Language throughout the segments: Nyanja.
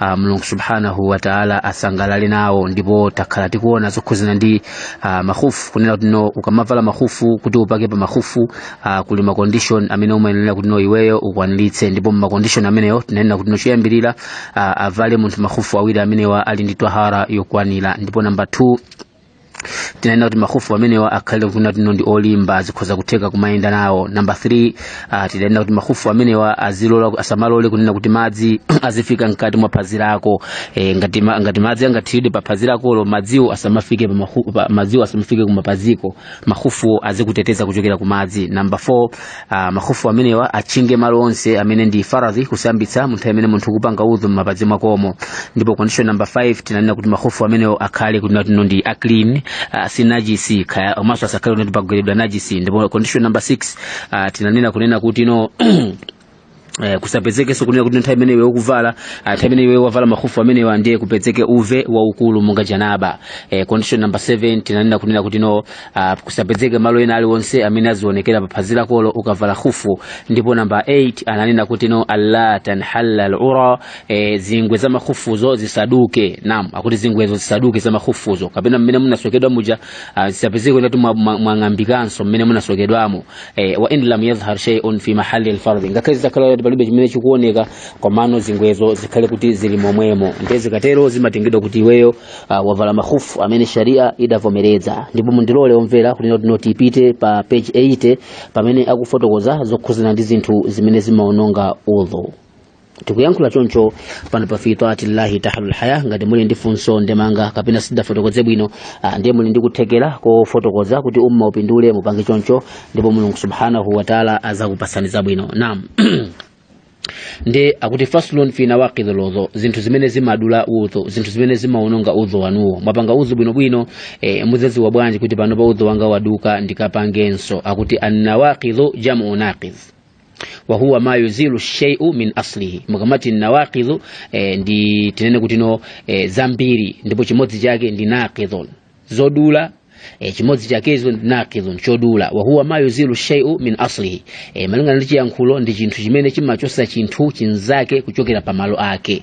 ah, mulungu subhanahu wa taala asangalale nawo ndipo takhala tikuona zokhuzana ndi ah, makhufu kunena kuti no ukamavala makhufu kuti upake pa makhufu ah, kuli macondition amene umayenera kuti no iweyo ukwaniritse ndipo macondition ameneyo tinanena kuti no choyambirira ah, avale munthu makhufu awiri amenewa ali ndi twahara yokwanira ndipo namba 2 tinanena kuti makhufu amenewa akhale kuti tino ndi olimba zikhoza kutheka kumayenda nawo namba 3 uh, tidanena kuti makhufu amenewa azilola asamalole kunena kuti madzi azifika mkati mwa phazi lako e, ngati, ma, ngati madzi angathiridwe pa phazi lakolo madziwo asamafike pa makhu- pa- madziwo asamafike kumapaziko makhufuwo azikuteteza kuchokera ku madzi namba 4 Ah, makhufu amenewa atchinge malo onse amene ndi faradhi kusambitsa mu nthawi imene munthu kupanga udhu m'mapazi mwakomo ndipo condition number 5 tinanena kuti makhufu amenewo akhale kunena kuti no ndi aclean ah, si najisi kaya komanso asakhale kuti pagweredwa najisi ndipo condition number 6 ah, tinanena kunena kuti no Eh, kusapezekenso kunena kuti nthawi imene iwe ukuvala ah, nthawi imene iwe wavala makhufu amenewa ndiye kupezeke uve waukulu monga janaba eh, condition number 7 tinanena kunena kuti no ah, kusapezeke malo ena aliwonse amene azionekera pa phazi lakolo ukavala khufu ndipo namba 8 ananena kuti no alla tanhalla alura eh, zingwe za makhufuzo zisaduke naam akuti zingwezo zisaduke za makhufuzo kapena mmene munasokedwa muja ah, zisapezeke kuti mwa- mwa- mwang'ambikanso mmene munasokedwamo e, wa in lam yadhhar shay'un fi mahalli al-fardh ngakhale zitakhala kuti palibe chimene chikuoneka komano zingwezo zikhale kuti zili momwemo ndiye zikatero zimatengedwa kuti iweyo uh, wavala makhufu amene sharia idavomereza ndipo mundilole omvera kunena kuti no tipite pa page 80 pamene akufotokoza zokhuzana ndi zinthu zimene zimaononga udhu tikuyankhula choncho pano pa fi taatillahi tahlul haya ngati muli ndi funso ndemanga kapena sitidafotokoze bwino ah, ndiye muli ndi kuthekera kofotokoza kuti umma upindule mupange choncho ndipo mulungu subhanahu wataala azakupasani zabwino naam ndiye akuti faslun fi nawaqidhi lwudhu zinthu zimene zimadula udhu zinthu zimene zimaononga udhu wanuwo mwapanga udhu bwinobwino e, muzaziwa bwanji kuti pano pa udhu wanga waduka ndikapangenso akuti annawaqidhu jamu naqidh wa huwa ma yuzilu shay'u min aslihi mukamati nawaqidhu eh, ndi tinene kuti no eh, zambiri ndipo chimodzi chake ndi naqidhun zodula eh, chimodzi chakezo ndi naqidhun chodula wa huwa ma yuzilu shay'u min aslihi eh, malingana ndi chiyankhulo ndi chinthu chimene chimachotsa chinthu chinzake kuchokera pa malo ake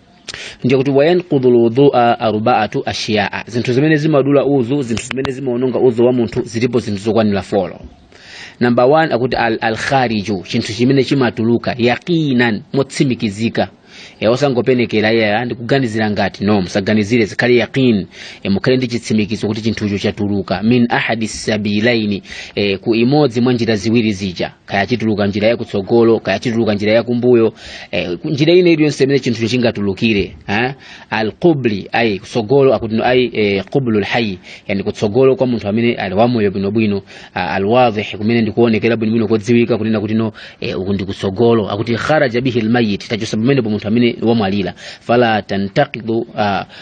ndiye akuti wayanqudhu lwudhua arbaatu ashiyaa zinthu zimene zimadula udhu zinthu zimene zimaononga udhu wa munthu zilipo zinthu zokwanira folo namba 1 akuti al, al khariju chinthu chimene chimatuluka yaqinan motsimikizika e, osangopenekera ayi ndikuganizira ngati no musaganizire zikhale yaqin e, mukhale ndi chitsimikizo kuti chinthucho chatuluka min ahadi sabilaini e, ku imodzi mwa njira ziwiri zija kaya chituluka njira ya kutsogolo kaya chituluka njira ya kumbuyo eh, njira ine iliyonse imene chinthu chingatulukire eh? alqubli ay kutsogolo akutino ay eh, qublu lhayi yani kutsogolo kwa munthu amene ali wamoyo bwinobwino ah, alwadhih kumene ndikuonekera bwinobwino kodziwika kunena kutino eh, uku ndi kutsogolo akuti kharaja bihi lmayit tachotsa pamenepo munthu amene wamwalira fala tantakidu ah,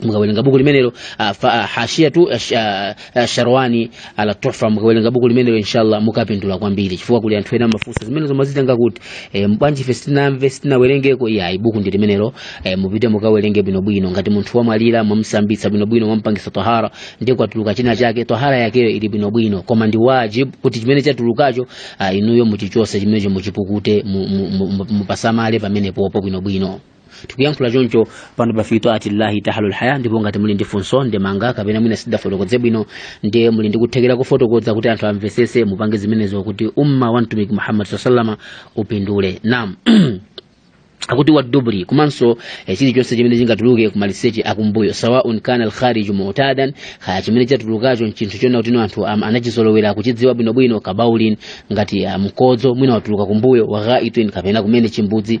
mukawerenga buku limenelo ah, fa- ah, hashiyatu ah, sh- ah, ah, sharwani ala tuhfa mukawerenga buku limenelo inshallah mukapindula kwambiri chifukwa kuli anthu ena mafunso zimene zomazitenga kuti eh, bwanji ife sitina- sitinawerengeko iyayi buku ndi limenelo eh, mupite mukawerenge bwinobwino ngati munthu wamwalira mwamsambitsa bwinobwino mwampangisa tahara ndiye kwatuluka china chake tahara yakeyo ili bwinobwino koma ndi wajib kuti chimene chatulukacho ah, inuyo muchichotse chimenecho muchipukute mu- mu- mu- mu- mupasamale pamenepopo bwinobwino tikuyankhula choncho pano pa fi taati llahi tahlu lhaya ndipo ngati muli ndi funso ndemanga kapena mwina sindafotokoze bwino ndiye muli ndi kuthekera kufotokoza kuti anthu amvetsetse mupange zimenezo kuti umma wa mtumiki muhammad sallallahu alaihi wasallam upindule naam akuti wadubri komanso eh, chilichonse chimene chingatuluke kumaliseche akumbuyo sawaun kana alkhariju mutadan kaya chimene chatulukacho nchinthu chona kutino anthu am- anachizolowera kuchidziwa bwinobwino kabaulin ngati ah, mkodzo mwina watuluka kumbuyo waghaitin kapena kumene chimbudzi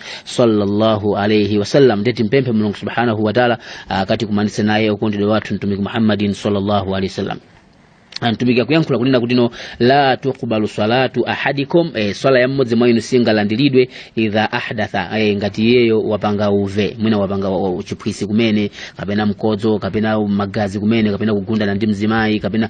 sallallahu alaihi wasallam ndiye timpemphe mulungu subhanahu wataala akatikumanitse naye okondedwa wathu mtumiki muhammadin sallallahu alaihi wasallam amtumiki akuyankhula kunena kuti no la tuqbalu salatu ahadikum e, swala ya mmodzi mwa inu singalandiridwe idha ahdatha e, ngati iyeyo wapanga uve mwina wapanga wa- wa- chiphwisi kumene kapena mkodzo kapena magazi kumene kapena kugundana ndi mzimayi kapena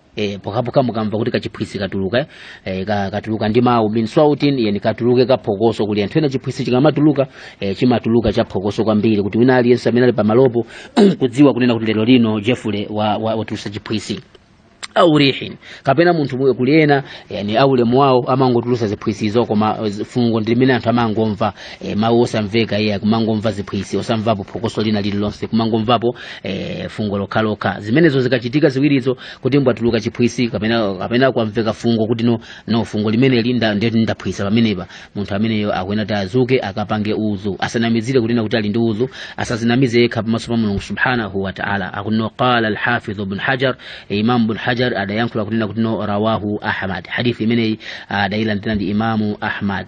e, pokhapokha mukamva kuti kachiphwisi katuluka e, ka, katuluka ndi mawu min swautin yani katuluke kaphokoso kuli anthu ena chiphwisi chikamatuluka e, chimatuluka chaphokoso kwambiri kuti wina aliyense amene ali pamalopo kudziwa kunena kuti lero lino jefule wa, wa, watulutsa chiphwisi au rihin kapena munthu mwe- kuli ena yani aulemu wawo amangotulutsa ziphwisizo koma eh, fungo ndi limene anthu amangomva e, mawu osamveka iye kumangomva ziphwisi osamvapo phokoso lina lililonse kumangomvapo e, fungo lokhalokha zimenezo zikachitika ziwirizo kuti mbwatuluka chiphwisi kapena kapena kwamveka fungo kuti no, no fungo limeneli nda- ndeti ndaphwisa pamenepa munthu ameneyo akuyenera kuti adzuke akapange udhu asanamizire kunena kuti ali ndi udhu asadzinamize yekha pamaso pa mulungu subhanahu wa taala akutino qala alhafidhu bn hajar e, imam bn hajar adayankhula kunena kuti no rawahu ahmad hadithi imeneyi adailandira ndi imamu ahmad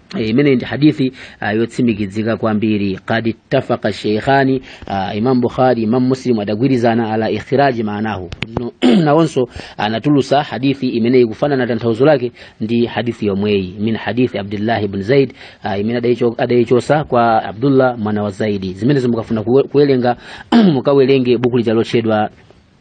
Eh, imeneyi ndi hadithi uh, yotsimikizika kwambiri qad ittafaqa sheikhani uh, imam bukhari imam muslim adagwirizana ala ikhraji maanahu No- nawonso anatulutsa hadithi imeneyi kufanana tanthauzo lake ndi hadithi yomweyi min hadithi abdillahi ibn zaid uh, imene adaicho- adaichotsa kwa abdullah mwana wa zaidi zimenezo mukafuna kuwe- kuwerenga mukawerenge buku lija lotchedwa